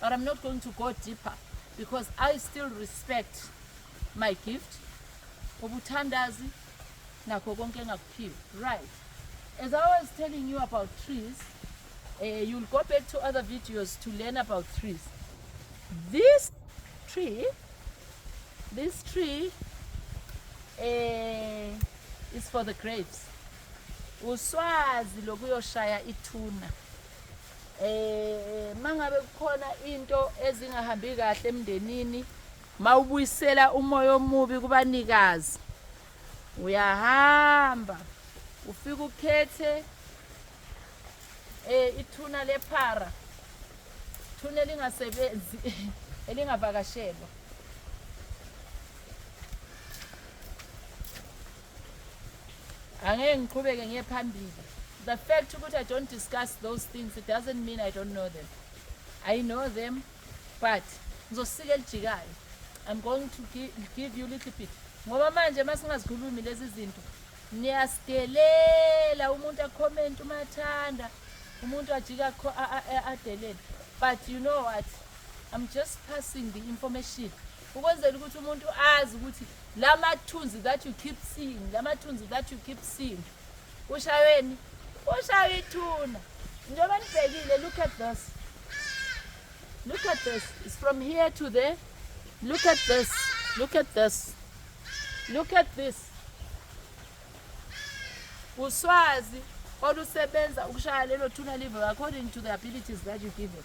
but I'm not going to go deeper because I still respect my gift ubuthandazi nakho konke engakuphiwe right as I was telling you about trees uh, you'll go back to other videos to learn about trees this tree this tree uh, is for the grapes uswazi lokuyoshaya ithuna Eh mangabe kukhona into ezingahambi kahle emndenini mawubuyisela umoya omubi kubanikazi uyahamba ufika ukhethe eh ithuna lephara ithuna elingasebenzi elingavakashelwa angeke ngiqhubeke ngiye phambili the fact ukuthi i don't discuss those things it doesn't mean i don't know them i know them but ngizosika elijikayo i'm going to give, give you little bit ngoba manje uma singazikhulumi lezi zinto niyasidelela umuntu akhomenti uma athanda umuntu ajika adelele but you know what i'm just passing the information ukwenzela ukuthi umuntu azi ukuthi la mathunzi that you keep seeing la mathunzi that you keep seeing ushaweni ushaye ithuna njengoba nibhekile look at this look at this it's from here to there look at this look at this look at this uswazi olusebenza ukushaya lelo thuna live according to the abilities that you give it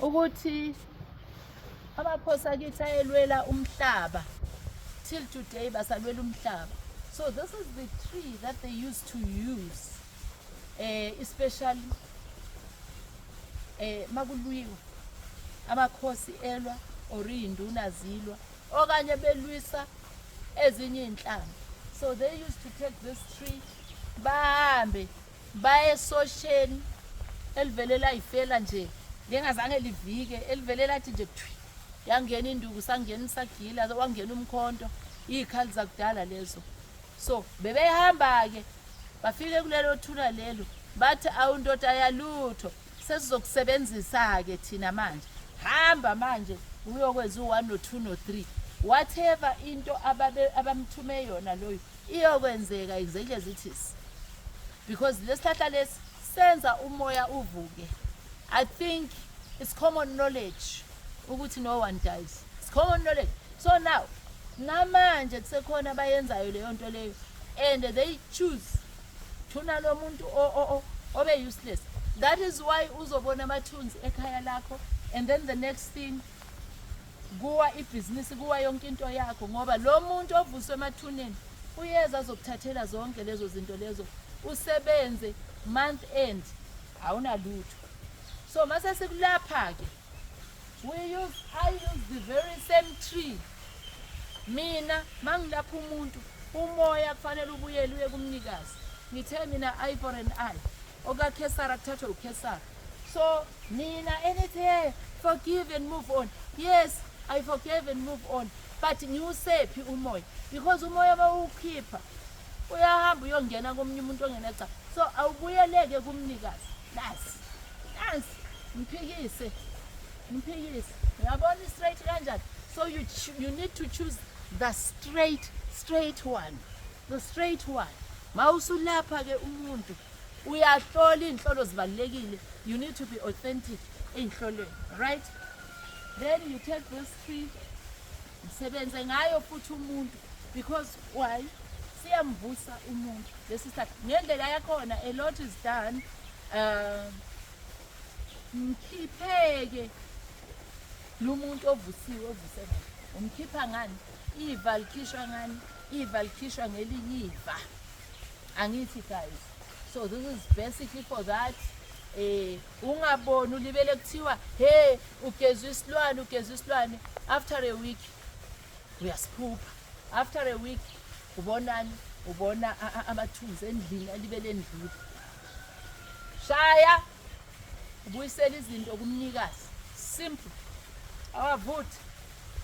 ukuthi amaphosa kithi ayelwela umhlaba till today basalwela umhlaba so this is the tree that they used to use eh especially eh makulwiwa amakhosi elwa or induna zilwa okanye belwisa ezinye inhlanga so they used to take this tree bahambe Baye esosheni elivele layifela nje ngengazange livike elivele lathi nje thwi yangena induku sangena isagila wangena umkhonto izikhali zakudala lezo so bebehamba ke bafike kulelo thuna lelo bathi awundoda yalutho sesizokusebenzisa ke thina manje hamba manje uyokwenza u1 no2 no3 whatever into ababe abamthume yona loyo Iyokwenzeka exactly as it is because lesihlahla lesi senza umoya uvuke. I think it's common knowledge ukuthi no one dies. It's common knowledge. So now namanje kusekhona abayenzayo leyo nto leyo and they choose thuna lo muntu obe useless that is why uzobona amathunzi ekhaya lakho and then the next thing kuwa ibhizinisi kuwa yonke into yakho ngoba lo muntu ovuswe emathuneni uyeza azokuthathela zonke lezo zinto lezo usebenze month end awunalutho so mase sikulapha-ke we use i use the very same tree mina mangilapha umuntu umoya kufanele ubuyele uye kumnikazi ngithe mina i for an i OkaKhesara kuthathwe uKhesara. So nina enithi hey forgive and move on. Yes, I forgive and move on. But ngiwusephi umoya? Because umoya bawukhipha uyahamba uyongena komunye umuntu ongeneca. So awubuyeleke kumnikazi. Nasi. Nasi. Mphikise. Mphikise. Uyabona i-straight kanjani? So you, you need to choose the straight straight one. The straight one. Mawusulapha ke umuntu uyahlola inhlolo zibalekile. You need to be authentic einhlolweni, right? Then you take this tree. Msebenze ngayo futhi umuntu because why? Siyamvusa umuntu. This is that. Ngendlela yakhona a lot is done. Uh, mkhipheke lo muntu ovusiwe ovuse ngani umkhipha ngani Iva likhishwa ngani? Iva likhishwa ngelinye iva. Angithi guys. So this is basically for that. Eh ungaboni ulibele kuthiwa hey ugezwa isilwane ugezwa isilwane after a week uyasiphupha. After a week ubonani? Ubona amathunzi endlini alibele endlini. Shaya ubuyisela izinto kumnikazi. Simple. Awavuthi